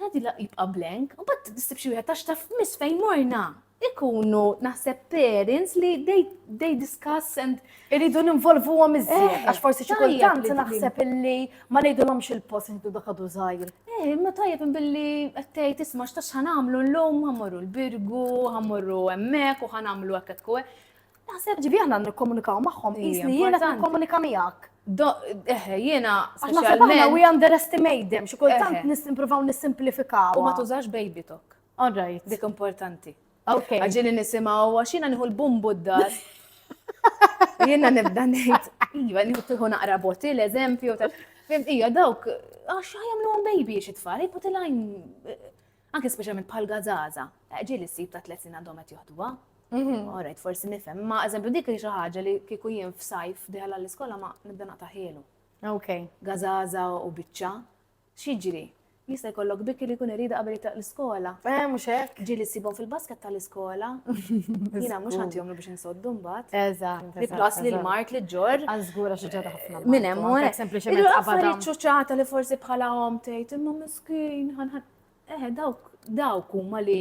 Għadi la jibqa blank, u bat nistib xi wieħed għax taf miss fejn morna. Ikunu naħseb parents li they, they discuss and irridu ninvolvu għom iżjed, eh, għax forsi xi kultant naħseb illi ma ngħidulhomx il-post inħdu dak għadu żgħir. Eh, ma tajjeb billi qed tgħid isma' x'tax ħanamlu llum ħammorru l-birgu, ħammorru hemmhekk u ħanamlu hekk qed Naħseb ġibi aħna nikkomunikaw magħhom, qis li jiena qed nikkomunika miegħek. Eħe, jiena speċjalment. We underestimate them, xi kultant nisimprovaw nisimplifikaw. U ma tużax baby talk. All right. Dik importanti. Ok. Għagġini nisimaw, għaxina nħu l-bumbu d-dar. Jiena nibda nejt, iva, nħu tiħu naqra boti l-eżempju. Ija, dawk, għax għajamlu għan baby xitfall, jiputilajn Anke speċjalment bħal gazaza, eh, ġieli ssib ta' tliet snin għandhom qed joħduha. Mhm. Alright, forsi nifhem, ma eżempju dik xi ħaġa li kieku jien f'sajf diħal għall-iskola ma nibda naqta' ħielu. Ok. Gazaza u biċċa. Xiġri? Jista' jkollok bikki li jkun irida qabel jitlaq l-iskola. Eh, mhux hekk. Ġieli ssibhom fil-basket tal-iskola. Jiena mhux ħadd jomlu biex insoddu mbagħad. Eżatt. Li plus li l-mart li ġor. Għazgura xi ġara ħafna. Minn hemm u hekk. Sempliċement Ilu qabadhom. affarijiet ċuċata li forsi bħala hom tgħid imma mis Kien ħanħan. Eħe, dawk, dawk huma li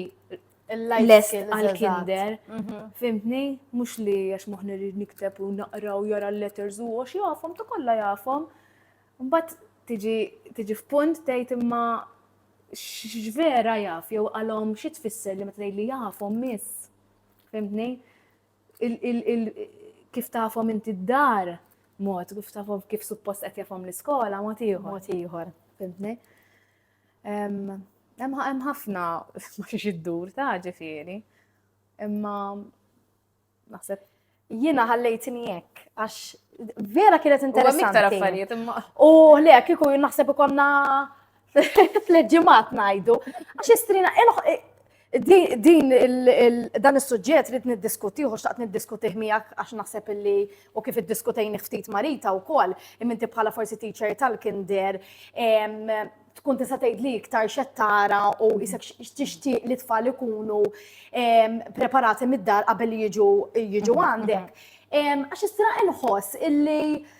l-lajs għal-kinder, mhm. fimtni, mux li għax muħni li nikteb u naqra u jara l-letters u għax jafom, ta' kolla jafom. Mbatt tiġi f'punt tejt imma x'vera jaf, jew għalhom xi tfisser li meta li jafhom miss. Fimtni? kif tafhom inti d-dar mod, kif tafhom kif suppost qed jafhom l-iskola mod ieħor. Mod ieħor, fimtni. Hemm ħafna ma xiex iddur ta' ġifieri. Imma naħseb jiena ħallejtni hekk għax vera kienet interessanti. U affarijiet imma. U le kieku naħseb ikonna Flet ġimgħat ngħidu, għax istrina din dan is-suġġett li niddiskutih u xtaqt niddiskutih miegħek għax naħseb illi u kif iddiskutejni ftit marita wkoll, imminti bħala forsi teacher tal-kinder tkun tista' tgħid li iktar xed tara u isek tixtieq li tfal ikunu preparati mid-dar qabel jiġu jiġu għandek. Għax istra inħoss illi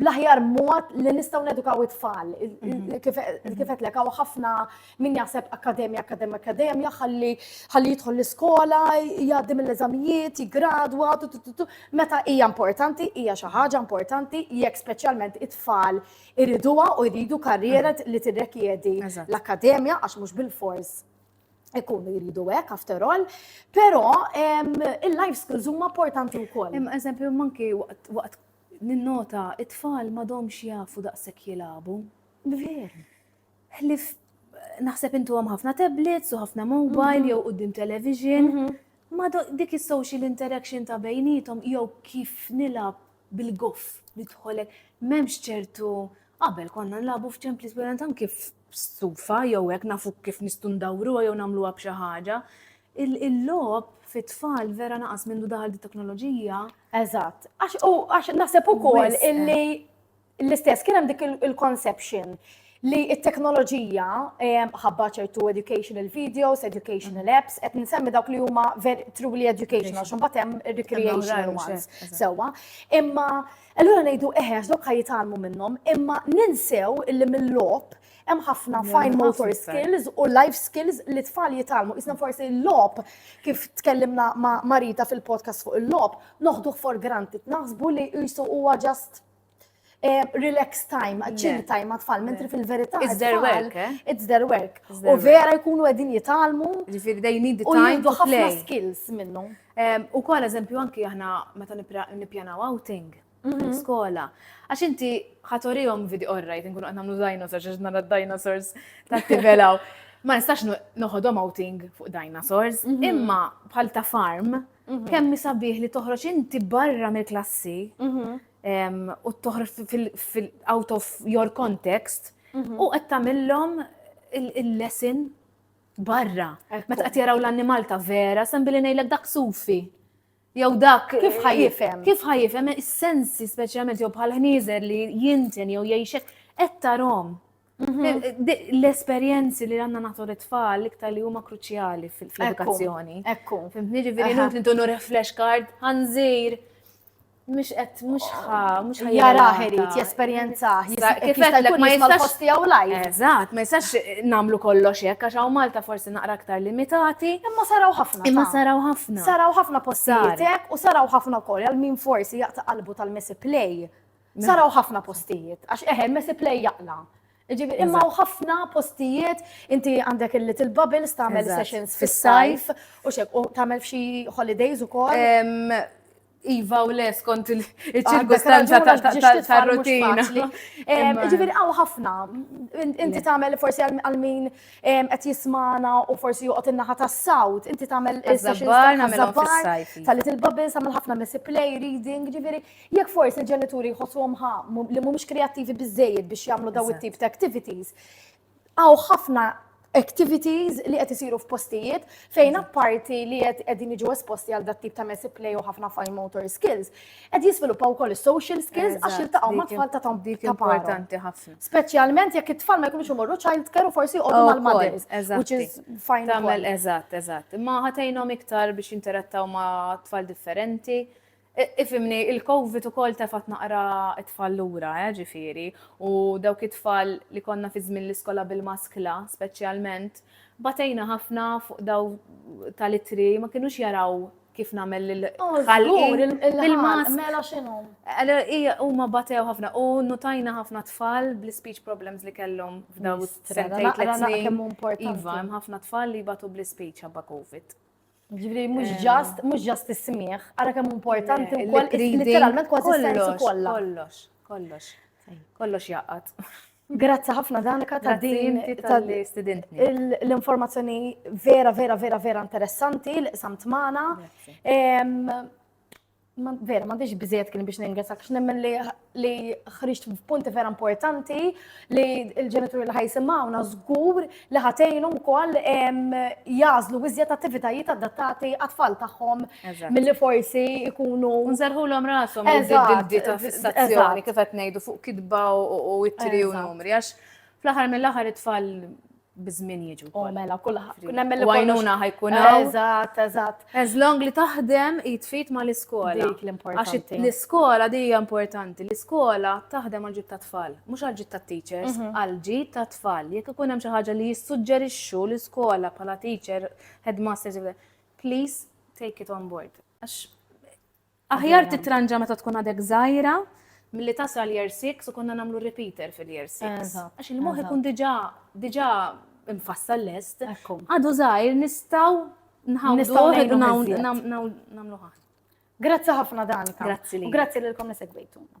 bl-aħjar mod li nistgħu nedukaw it-tfal. Kif qed lek hawn ħafna min jaħseb akkademja, akkademja, akkademja, ħalli ħalli jidħol l-iskola, jgħaddi mill-eżamijiet, jiggradwa, meta hija importanti, hija xi ħaġa importanti jekk speċjalment it-tfal iriduha u jridu karriera li tirrekjedi l-akkademja għax mhux bil-fors ikunu jridu hekk after all, però il-life skills huma importanti wkoll. Hemm eżempju manki waqt Ninnota, it-tfal m'għadhomx jafu daqshekk jilagħbu. Veru. Ħlief naħseb intuhom ħafna tablets u ħafna mobile jew quddiem television. Ma dik is-social interaction ta' bejniethom jew kif nilgħab bil-goff nidħol hekk, m'hemmx ċertu, qabel konna nilagħbu f'ċemplies, anke b'stufa jew hekk nafu kif nistgħu ndawruha jew nagħmluha b'xi ħaġa. Il-logħob fit-tfal vera naqas mindu daħal it-teknoloġija. Eżatt. Għax naħseb ukoll illi eh. l-istess kien hemm dik il-conception li it-teknoloġija eh, ħabba ċertu educational videos, educational mm. apps, qed nsemmi dawk li huma truly educational, xum hemm recreational ones. Sewa, imma Allura ngħidu eħe għax dawk ħa jitgħallmu minnhom, imma ninsew illi mill-logħob hemm ħafna fine motor skills u life skills li tfal jitalmu. Isna forsi l-lob, kif tkellimna ma' Marita fil-podcast fuq il-lob, noħduh for granted, naħsbu li jisu huwa just eh, relax time, chill time ma' tfal, mentri fil-verità. It's their work, eh? It's their work. U vera jkunu għedin jitalmu. Ġifiri, they need the time to play. ħafna skills minnu. U kol eżempju anki aħna meta nippjanaw outing mhm. skola. Għax inti ħatorijom video orrajt, nkunu għanna mlu dinosaurs, għax nara dinosaurs ta' tivelaw. Ma nistax noħodhom outing fuq dinosaurs, mhm. imma bħal ta' farm, mhm. kemm misabiħ li toħroġ inti barra mill-klassi u toħroġ fil-out of your context u qed tagħmillhom il-lesson Barra, meta qed jaraw l-annimal ta' vera, sem billi ngħidlek dak sufi. Jew dak kif ħajifhem? Kif ħajifhem is-sensi speċjalment jew bħal ħnieżer li jinten jew jgħixek qed tarhom. Mhm. L-esperjenzi li għanna nagħtu l-tfal iktar li huma kruċjali fil-edukazzjoni. Ekku. Fimtni ġifieri nut nintu reflex card, ħanżir, mux qed mux ħa, mux ħa jaraħ irid, jesperjenzaħ, jisaqlek ma jistax posti għaw lajf. Eżat, ma jistax eh, namlu kollox hekk għax hawn Malta forsi naqra aktar limitati. Imma saraw ħafna. Imma saraw ħafna. Saraw ħafna postijiet hekk u saraw ħafna wkoll għal min forsi jaqta' qalbu tal-mesi play. Saraw ħafna postijiet għax eħe mesi play jaqla. Ġifieri, imma hawn ħafna postijiet, inti għandek il-little bubbles tagħmel sessions fis-sajf u xek, u tagħmel f'xi holidays ukoll. Iva u les kont il-ċirkustanza tal-rutina. Ġifieri hawn ħafna, inti tagħmel forsi għal min qed jismana u forsi joqgħod in-naħa tas-sawt, inti tagħmel sessions tal-little bubbles, tagħmel ħafna messy play, reading, ġifieri Jekk forsi l-ġenituri jħossuhom ħa li mhumiex kreattivi biżejjed biex jagħmlu daw it-tip ta' activities, għaw ħafna activities li qed isiru f'postijiet fejn apparti li qed qegħdin jiġu esposti għal dat tip ta' messy play u ħafna fine motor skills, qed jiżviluppaw ukoll is-social skills għax jiltaqgħu ma' tfal ta' dik importanti ħafna. Speċjalment jekk it-tfal ma jkunux imorru child care u forsi jqogħdu mal-mothers, which is fine. Tagħmel eżatt, eżatt. Imma ħatejnhom iktar biex jinterattaw ma' tfal differenti Ifhimni, il-Covid ukoll tefgħet naqra t-tfal lura, eh, ġifieri, u dawk it-tfal li konna fi żmien l-iskola bil-maskla, speċjalment, batejna ħafna fuq daw tal-ittri, ma kinux jaraw kif nagħmel lil oh, ħalqi bil-mask. Mela x'inhu? Hija huma batew ħafna u nutajna ħafna tfal bl-speech problems li kellhom f'daw sentejn tliet snin. Iva, hemm ħafna tfal li batu bl-speech ħabba COVID. Ġifri, mux ġast, mux ġast ismiħ, għara kemm importanti u koll, literalment kważi sensu kollha. Kollox, kollox, kollox jaqat. Grazzi ħafna Danika ta' din l-informazzjoni vera, vera, vera, vera interessanti li qsamt magħna. Ma vera, ma biex biżejjed kien biex ningrazzak x'nemmen li li ħriġt f'punti vera importanti li l-ġenituri li ħajsimgħuna żgur li ħatejnhom ukoll jażlu iżjed attivitajiet adattati għat-tfal tagħhom milli forsi jkunu nżerħulhom rashom id-dita fissazzjoni kif qed ngħidu fuq kitba u ittri u numri għax fl-aħħar mill-aħħar it-tfal bizmin jiġu. U mela kullħat. Nemmen li għajnuna ħajkun. Eżat, eżat. As long li taħdem jitfit ma l-iskola. Dik l-importanti. Għax l-iskola di importanti. L-iskola taħdem għal-ġit ta' tfal. Mux għal-ġit ta' teachers, mhm. għal-ġit ta' tfal. Jek ikun hemm xi ħaġa li jissuġġerixxu l-iskola bħala teacher, headmaster, please take it on board. Għax Aħjar titranġa meta tkun għadek żgħira milli tasal year 6 u konna nagħmlu repeater fil-year 6. Għax il-moħħ ikun diġà diġà mfassal lest. Għadu żgħir nistgħu nħawdu nagħmlu ħadd. Grazzi ħafna Danika. Grazzi li. Grazzi lilkom li segwejtuna.